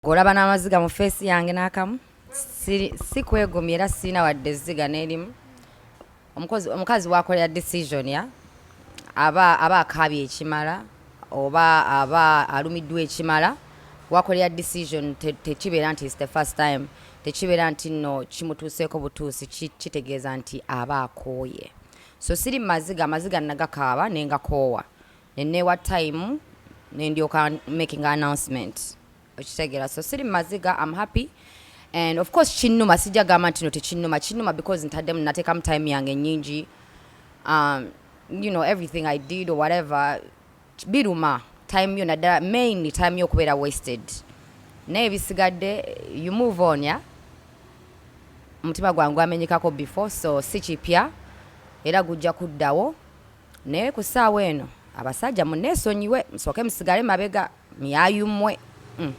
ng'olaba n'amaziga mu feesi yange n'akamu si kwegumya era sirina wadde ezziga n'erimu omukazi wakolera decision ya aba aba akaabye ekimala oba aba alumiddwa ekimala wakolera decision tekibeera nti is the first time tekibeera nti nno kimutuuseeko butuusi kitegeeza nti aba akooye so siri maziga amaziga nagakaaba nengakoowa nenewa time nendyoka making announcement okitegera so siri maziga am happy and of course kinuma sijja gamba ntino tekinuma kinuma because ntaddemu natekamu time yange nyingi um, you know everything i did or whatever biruma time yo naddala mainly time yo okubeera wasted naye bisigadde you move on ya omutima gwange gwamenyekako before so si kipya era gujja kuddawo Naye ku saawa eno abasajja munesonyiwe musooke musigale mabega myayumwe mm.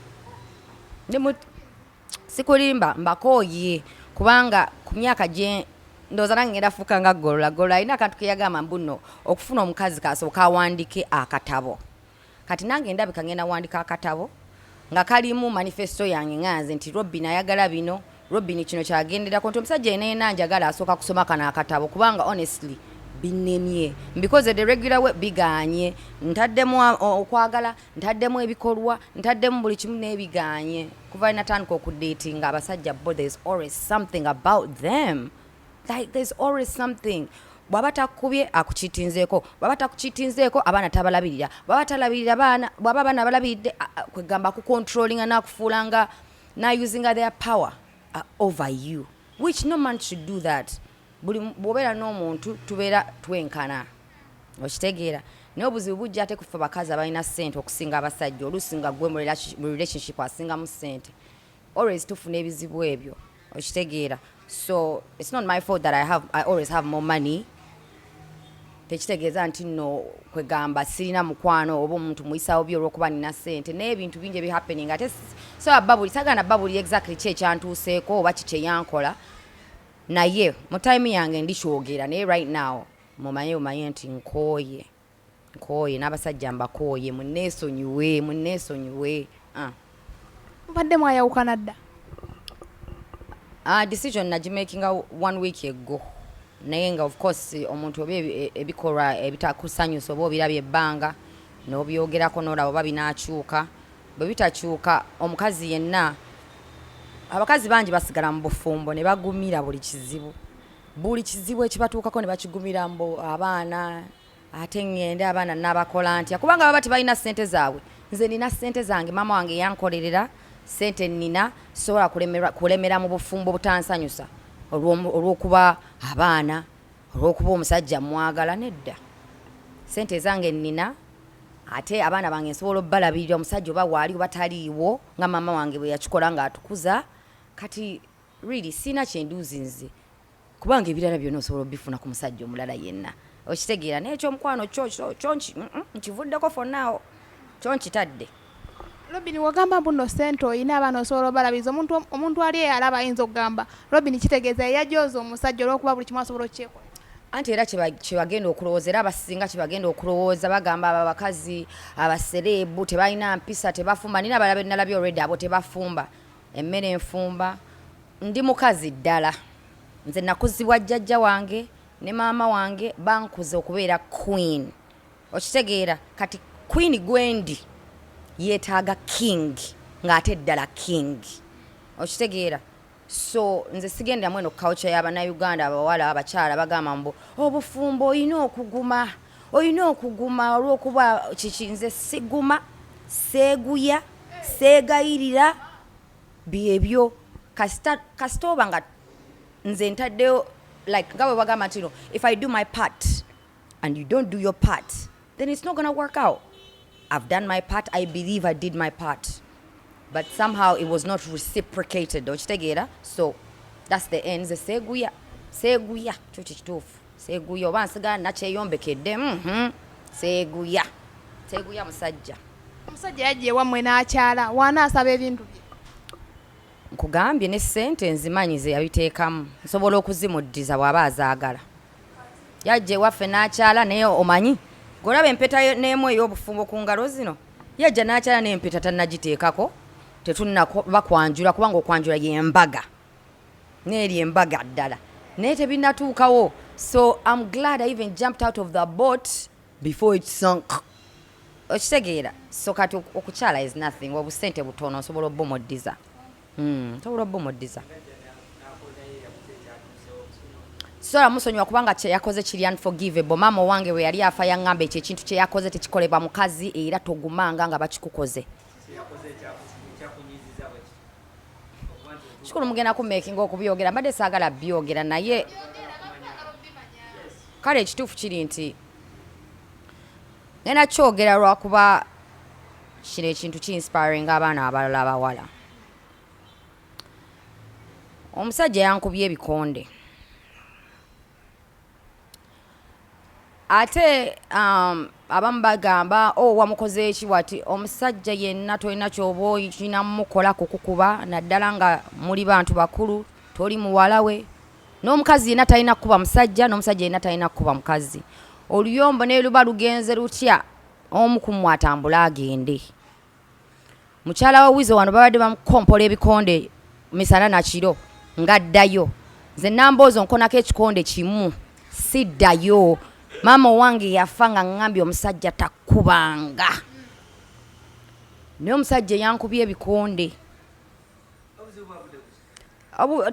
sikulimba mbakooye kubanga ku myaka gye ndowooza nange ngenda fuuka nga golola golola alina akantu keyagamba mbuno okufuna omukazi kasooka awandike akatabo Kati nange ndabika ngenda wandika akatabo nga kalimu manifesto yange nganze nti Robin ayagala bino Robin kino kyagenderako nti omusajja eneena njagala asooka kusoma kano akatabo kubanga honestly binemye mbikoze the regular way biganye ntaddemu okwagala ntaddemu ebikolwa ntaddemu buli kimu nebiganye kuva natandika okudatinga abasajja bo there is always something about them like there's always something bwaba takubye akukitinzeeko bwaba takukitinzeeko abaana tabalabirira bwaba talabirira baana bwaba abaana balabiridde kwegamba kucontrollinga nakufuula nga nausinga their power uh, over you which no man should do that buli bwobeera n'omuntu tubeera twenkana okitegeera naye obuzibu bujja ate kufa bakazi abalina sente okusinga abasajja oluusi nga gwe mu relationship asingamu sente always tufuna ebizibu ebyo okitegeera so it's not my fault that I, have, I always have more money tekitegeeza nti no kwegamba sirina mukwano oba omuntu muyisawo byo olwokuba nina sente naye ebintu bingi ebihappening ate soba babuli sagana babuli exactly ki ekyantuuseeko oba kikyeyankola naye mu time yange ndikyogera naye right now mumanye bumanye nti nkooye Nkooye n'abasajja mbakooye munneesonyiwe munneesonyiwe ah. Mubadde mwayawukana dda? Uh, decision nagimakinga one week ago naye nga of course omuntu oba e, ebikolwa ebitakusanyusa oba obirabye ebbanga n'obyogerako n'olaba oba binaakyuka bwe bitakyuka omukazi yenna abakazi bangi basigala mu bufumbo ne bagumira buli kizibu buli kizibu ekibatuukako ne bakigumira mbu abaana ate ŋŋende abaana nabakola ntya kubanga baba tebalina ssente zaabwe nze nina ssente zange maama wange yankolerera ssente nina sobola kulemera mu bufumbo butansanyusa olw'okuba abaana olw'okuba omusajja mwagala nedda ssente ezange nina ate abaana bange nsobola obalabirira omusajja oba waali oba taliiwo nga maama wange bwe yakikola ng'atukuza kati really sina kyenduzi nze kubanga ebirala byona osobola obifuna ku musajja omulala yenna okitegeera naye ekyomukwano kyo kyo nkivuddeko fonaawo kyo nkitadde robin wagamba mbuno sente olina abaana osobola obalabiza omuntu ali eyo alaba ayinza okugamba robin kitegeeza yeyajooza omusajja olwokuba buli kimu asobola okukyekola anti era kyebagenda okulowooza era abasinga kyebagenda okulowooza bagamba abo abakazi abasereebu tebalina mpisa tebafumba nina abalabe nalabye olredi abo tebafumba Emmere enfumba, Ndi mukazi ddala. Nze nakuzibwa jjajja wange ne maama wange bankuza okubeera queen. Okitegeera? Kati queen gwendi yetaaga king ng'ate ddala king. Okitegeera? So nze sigenderamu eno culture ya bannayuganda abawala abakyala bagamba mbu obufumbo olina okuguma. olina okuguma olwokuba kikinze siguma seeguya seegayirira byebyo kasita kasita oba nga nze ntaddeyo like nga bwe bagamba ntino if i do my part and you don't do your part then it's not gonna work out I've done my part I believe I did my part but somehow it was not reciprocated okitegeera so that's the end ze seeguya seeguya kyo kikituufu seeguya oba nsigala nakyeyombekedde mhm. seeguya seeguya musajja omusajja yajja ewammwe n'akyala waana asaba ebintu bye nkugambye ne ssente nzimanyi ze yabiteekamu nsobola okuzimuddiza bw'aba azaagala yajja ewaffe n'akyala naye omanyi golaba empeta n'emu ey'obufumbo ku ngalo zino yajja n'akyala naye empeta tannagiteekako tetunnabakwanjula kubanga okwanjula y'embaga neeri embaga ddala naye tebinatuukawo so am glad i even jumped out of the boat before it sunk okitegeera so kati okukyala is nothing obusente butono osobola obumuddiza Hmm, toula bo modiza. Sola musonyiwa kubanga kye yakoze kiri unforgivable. Mama wange we yali afa yangamba ekyo ekintu kye yakoze tekikolebwa mukazi era togumanga nga bakikukoze. Shukuru mugenda ku making okubyogera mbadde saagala byogera naye kale ekituufu kiri nti Ngenda kyogera lwakuba kino ekintu ki inspiring abaana abalala abawala. Omusajja yankubye ebikonde ate um, abamu bagamba o oh, wamukoze eki wati omusajja yenna tolina kyoba oyina mukola kukukuba naddala nga muli bantu bakulu toli muwala we N'omukazi yena talina kukuba musajja, n'omusajja yena talina kukuba mukazi. Oluyombo neluba lugenze lutya, omu kummwe atambule agende. Mukyala wa Weasel wano babadde bamukompola ebikonde misana na kiro nga addayo. Nze Namboozo nkonako ekikonde kimu siddayo. Maama owange yafa nga ngambye omusajja takubanga. Naye omusajja eyankubye ebikonde.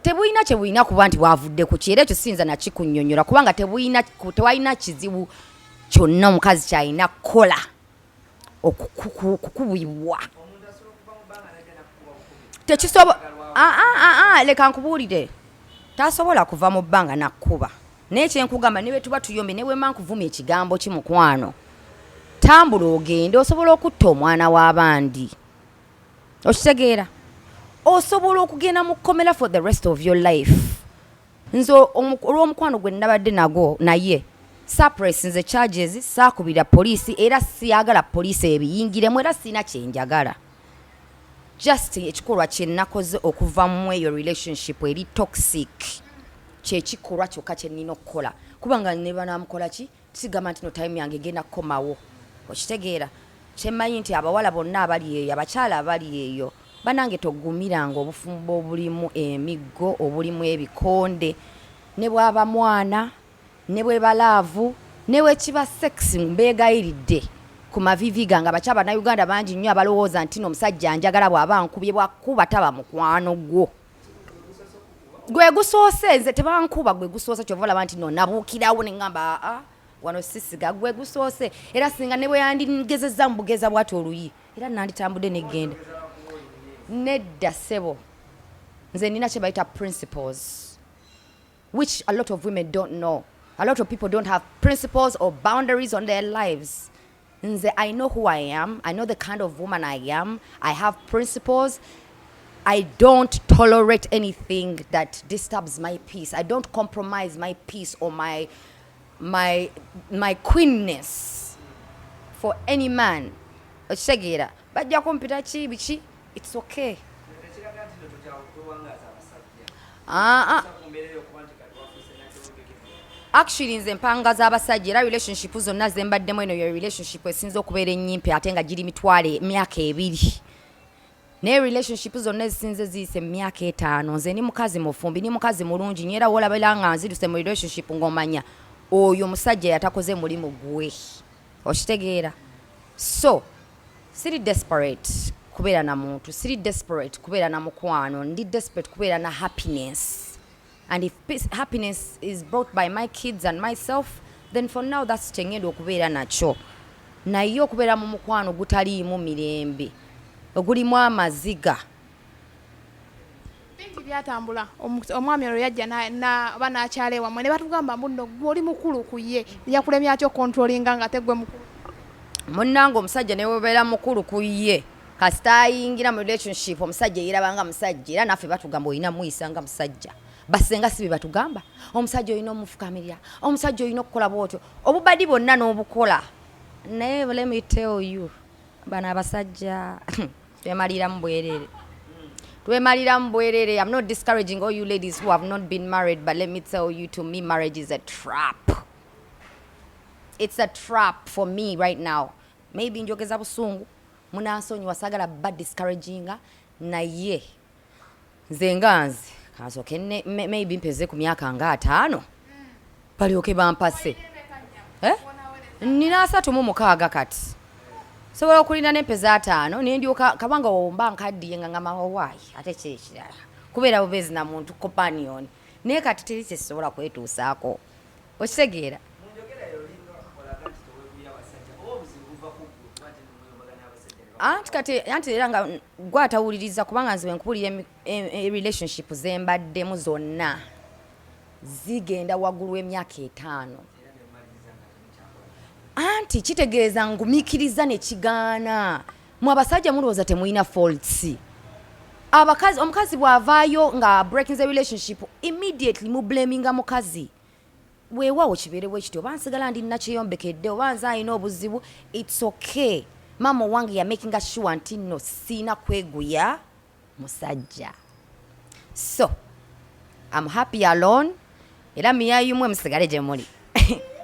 tebulina kyebulina kuba nti bwavudde ku kyera ekyo siyinza nakikunyonyola kubanga tewalina kizibu kyonna omukazi kyalina kukola okukubibwa tekisobola ah, ah, ah, leka nkubuulire tasobola kuva mu bbanga nakkuba naye kyenkugamba ne bwetuba tuyombye ne bwema nkuvuma ekigambo ki mukwano tambula ogende osobola okutta omwana w'abandi okitegeera osobola okugenda mu kkomera for the rest of your life nze olw'omukwano gwe nabadde nagwo naye surprise nze charges saakubira poliisi era siyagala poliisi ebiyingiremu era sirina kyenjagala just ekikolwa kyenakoze okuva mu eyo relationship eri toxic kyekikolwa kyokka kyenina okukola kubanga nebanamukola ki Sigamba nti no time yange genda kukomawo. Okitegeera? Kyemanyi nti abawala bonna abali eyo, abakyala abali eyo, banange togumiranga obufumbo obulimu emiggo, obulimu ebikonde, ne bwaba mwana, ne bweba laavu, ne wekiba sex mbegayiridde ku mavivi gange abakyala bannayuganda bangi nnyo abalowooza nti no omusajja anjagala bwaba ankubye bwakukuba taba mukwano gwo. gwe gusoose nze tebankuba gwe gusoose kyova olaba nti no nabuukirawo ne ŋamba aa ah, ah, wano sisiga gwe gusoose era singa ne bwe yandigezezza mu bugeza bwati oluyi era nanditambudde negenda nedda sebo nze nina kye bayita principles which a lot of women don't know a lot of people don't have principles or boundaries on their lives Nze I know who I am, I know the kind of woman I am, I have principles. I don't tolerate anything that disturbs my peace. I don't compromise my peace or my my my queenness for any man. Okitegeera bajja kumpita ki biki It's okay. Ah, ah. Actually nze mpanga z'abasajja era relationship zonna ze mbaddemu eno ye relationship esinza okubeera ennyimpi ate nga giri mitwalo emyaka ebiri naye relationship zonna ezisinza eziyise mu myaka etaano nze ni mukazi mufumbi ni mukazi mulungi nyo era wolabera nga nziruse mu relationship ng'omanya oyo musajja yatakoze mulimu gwe okitegeera so siri desperate kubeera na muntu siri desperate kubeera na mukwano ndi desperate kubeera na happiness and if peace, happiness is brought by my kids and myself then for now thats kyengenda okubeera nakyo naye okubeera mu mukwano gutaliimu mirembe ogulimu amaziga bingi byatambula omwami olwo yajja oba n'akyala ewammwe ne batugamba mbu nno gwe oli mukulu ku ye yakulemye atya okontrolinga nga tegwe mukulu munnange omusajja ne webeera mukulu ku ye kasita ayingira mu relationship omusajja eyirabanga musajja era naffe batugamba olina muyisa nga musajja basenga si bebatugamba omusajja olina omufukamirira omusajja olina okukola bwotyo obubadi bwonna n'obukola naye let me tell you bano abasajja twemaliramu bwerere twemaliramu bwerere i'm not discouraging all you ladies who have not been married but let me tell you to me marriage is a trap it's a trap for me right now maybe njogeza busungu munansonyiwa sagala ba discouraginga naye nze nganzi kansoke maybe mpeze ku myaka nga ataano balyoke bampase eh? nina asatu mu mukaaga kati sobola okulinda nempeza ataano nendyoka kabanga womba nkaddiye nga ngamawowaayi oh, ate kiri kirala kubeera bubeezi na muntu companion naye kati teri kyesobola kwetuusaako Okitegeera? anti kati anti era nga gwe atawuliriza kubanga nzibe nkubulira e, e, e relationship zembaddemu zonna zigenda waggulu w'emyaka etaano anti kitegeeza ngumikiriza nekigaana Mwe abasajja mulowooza temulina faults abakazi omukazi bw'avaayo nga breaking the relationship immediately mu blaminga mukazi weewaawo kibeerewo ekiti oba nsigala ndi nakyeyombekedde oba nze alina obuzibu its okay maama owange yamakinga sure nti nno siina kweguya musajja so am happy alone era miyayumwe musigale gye muli